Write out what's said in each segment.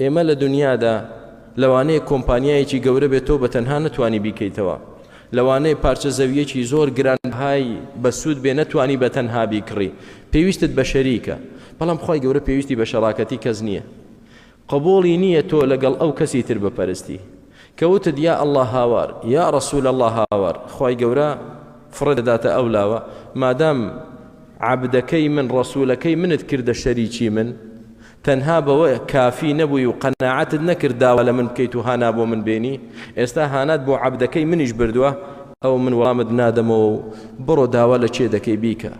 ئێمە لە دونیادا لەوانەیە کۆمپانیایەکی گەورە بێت تۆ بە تەنها نەتوانی بیکەیتەوە، لەوانەیە پارچە زەوییەکی زۆر گرانبەهای بەسوود بێ نەتوانی بە تەنها بیکڕی پێویستت بە شەریکە، بەڵام خوای گەورە پێویستی بە شەراکەتی کەس نییە قبوڵی نییە تۆ لەگەڵ ئەو کەسی تر بپەرستی کە وتت یا اللە هاوار یا رسول اللە هاوار خوای گەورە فڕێ دەداتە ئەو لاوە مادام عەبدەکەی من رسولەکەی منت کردە شەریکی من تەنها بەوە کافی نەبووی و قەناعەتت نەکرد داوا لە من بکەیت و هانا بۆ من بێنی، ئێستا هانات بۆ عەبدەکەی منیش بردووە، ئەوە من وەڵامت نادەمەوە و بڕۆ داوا لە کێ دەکەی بیکە،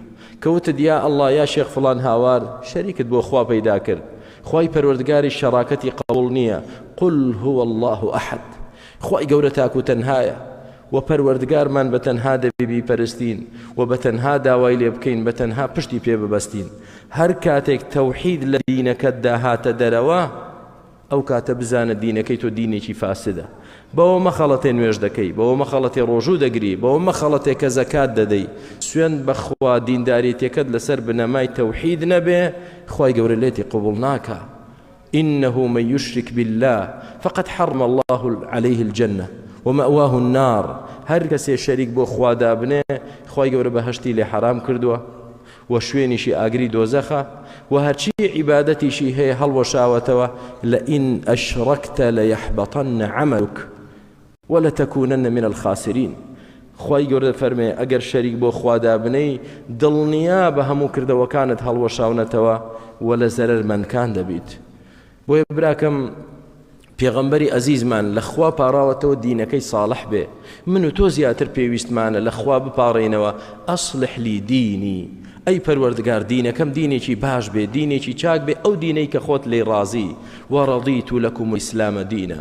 کە وتت یا اللە یا شێخ فڵان هاوار شەریکت بۆ خوا پەیدا کرد، خوای پەروەردگاریش شەراکەتی قبوڵ نییە، قل هو اللە احد خوای گەورە تاک و تەنهایە، وە پەروەردگارمان بە تەنها دەبێ بیپەرستین و بە تەنها داوای لێ بکەین بە تەنها پشتی پێ ببەستین هەر کاتێک تەوحید لە دینەکەتدا هاتە دەرەوە ئەو کاتە بزانە دینەکەی تۆ دینێکی فاسدە بەوە مەخەڵەتێ نوێژ دەکەی بەوە مەخەڵەتێ ڕۆژوو دەگری بەوە مەخەڵەتێ کە زەکات دەدەی سوێن بەخوا دینداریتەکەت لەسەر بنەمای تەوحید نەبێ خی گەورە لێتی قوبڵ ناکە انه من یشرک باللە فقد حرم اللە علیه الجنە ومأواه النار هەر کەسێ شەریک بۆ خوا دابنێ خوای گەورە بەهەشتی لێ حەرام کردووە و شوێنیشی ئاگری دۆزەخە و هەرچی عیبادەتیشی هەیە هەڵوەشاوەتەوە لئن اشرکت لیحبطن عملک ولتکونن من الخاسرین، خوای گەورە دەفەرمێ، ئەگەر شەریک بۆ خوا دابنێی، دڵنیابە هەموو کردەوەکانت هەڵوەشاونەتەوە و لە زەرەرمەندکان دەبیت. بۆیە براکەم پێغەمبەری ئەزیزمان لە خوا پاڕاوەتەوە دینەکەی ساڵح بێ من و تۆ زیاتر پێویستمانە لە خوا بپاڕێینەوە ئەسلح لی دینی ئەی پەروەردگار دینەکەم دینێکی باش بێ دینێکی چاک بێ ئەو دینەی کە خۆت لی ڕازی وەڕەضیت لەکم ئیسلامە دینە